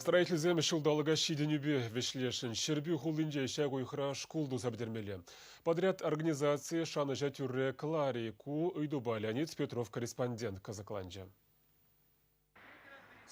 Строительсем ҫулталӑка ҫитӗнӳпе вӗҫлесшӗн. Ҫӗрпӳ хулинче ҫак уйӑхра шкул туса пӗтермелле. Подряд организацийӗ шанӑҫа тӳрре Клари ку ыйтупа Леонид Петров корреспондент кӑсӑкланчӗ.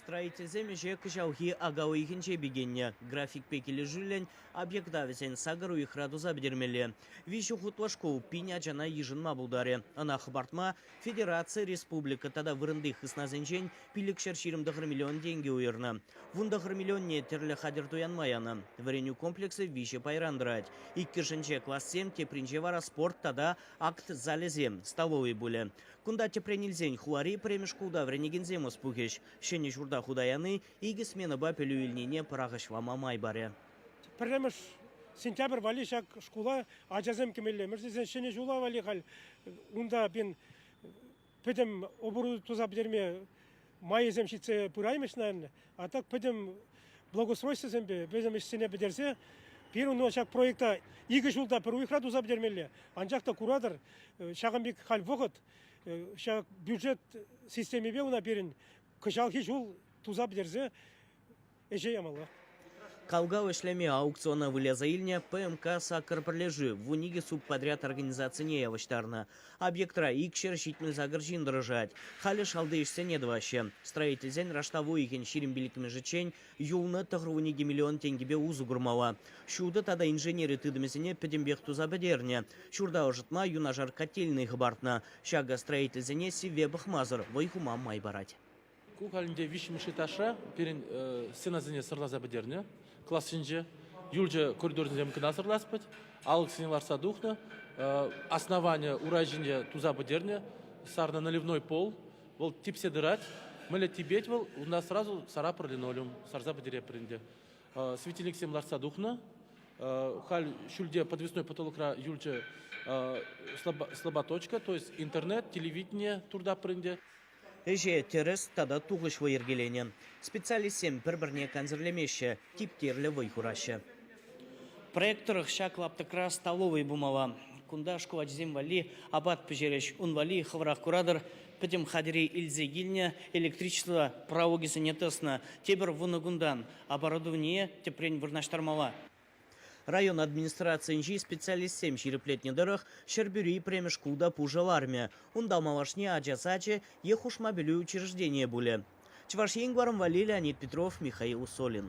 Строительсем ӗҫе кӑҫалхи ака уйӑхӗнче пикеннӗ. Графикпе килӗшӳллӗн объекта вӗсен сакӑр уйӑхра туса пӗтермелле. Виҫӗ хутлӑ шкул пин ачана йышӑнма пултарӗ. Ӑна хӑпартма Федераци, республика тата вырӑнти хыснасенчен пиллӗкҫӗр ҫирӗм тӑхӑр миллион тенкӗ уйӑрнӑ. Вун тӑхӑр миллионне тӗрлӗ хатӗр туянма янӑ. Вӗренӳ комплексӗ виҫӗ пайран тӑрать. Иккӗшӗнче классем, тепринче вара спорт тата акт залӗсем, столовӑй пулӗ. Кунта тӗпрен илсен хулари пӗрремӗш шкулта вӗренекенсем ӑс пухӗҫ. Ҫӗнӗ ҫурта хута яни икӗ сменӑпа пӗлӳ илнине пӑрахӑҫлама май парӗ. Пӗрремӗш сентябрь валли ҫак шкула ачасем кӗмеллемӗш тесен ҫӗнӗ ҫула валли халь унта, блин, пӗтӗм оборудовани туса пӗтерме майӗсем ҫитсе пыраймӗҫ, наверное. А так пӗтӗм благоустройствӑсемпе пӗтӗм ӗҫсене пӗтерсе пирӗн ӑна ҫак проекта икӗ ҫулта пӗр уйӑхра туса пӗтермелле. Анчах та куратӑр, ҫакӑн пек халь вӑхӑт, ҫак бюджет системипе уна пирӗн кӑҫалхи ҫул туса пӗтерсе ӗҫе ямалла. Калгав ӗҫлеме аукциона выляса илнӗ ПМК «Сакӑр пӗрлешӳ» вун икӗ субподряд организацине явӑҫтарнӑ. Объектра икҫӗр ҫитмӗл сакӑр ҫын тӑрӑшать. Халӗ шалти ӗҫсене тӑваҫҫӗ. Строительсен раштав уйӑхӗн ҫирӗм пиллӗкмӗшӗччен юлнӑ тӑхӑр-вун икӗ миллион тенкӗпе усӑ курмалла. Ҫутӑ тата инженери тытӑмӗсене пӗтӗмпех туса пӗтернӗ. Ҫурта ӑшӑтма юнашар котельнӑй хӑпартнӑ. Ҫакӑ строительсене сивве пӑхмасӑр вӑй хума май парать. Ку калӗнче виҫҫӗмӗш этажра пирӗн стенасене сӑрласа пӗтернӗ классенче. Юлчӑ коридорсенчен кӑна сӑрлас пӗт. Алӑксене лартса тухнӑ. Основание урай ҫинче туса пӗтернӗ. Сарнӑ наливной пол. Вӑл типсе тӑрать. Мӗнле типет вӑл, унта сразу сарапӑр линолеум сарса пӗтереппӗр ӗнтӗ. Светильниксем лартса тухнӑ. Халь ҫӳлте подвесной потолокра юлчӗ слаботочка, то есть интернет, телевидение туртаппӑр ӗнтӗ. Ӗҫе тӗрӗс тата тухӑҫлӑ йӗркеленӗ. Специалистсем пӗр-пӗрне кансӗрлемеҫҫӗ, типтерлӗ вӑй хураҫҫӗ. Проект тӑрӑх ҫак лаптӑкра столовӑй пулмалла. Кунта шкул ачисем валли апат пӗҫерӗҫ. Ун валли хӑвӑрах куратӑр, пӗтӗм хатӗре илсе килнӗ, электричество пралукӗсене тӑснӑ. Тепӗр вунӑ кунтан оборудование тӗпрен вырнаҫтармалла. Район администрацийӗнчи специалистсем ҫирӗплетнӗ тӑрӑх, Ҫӗрпӳри пӗрремӗш шкул та пушӑ лармӗ. Унта малашне ача сачӗ е хушма пӗлӳ учрежденийӗ пулӗ. Чӑваш Ен, варӑн валли Леонид Петров, Михаил Усолин.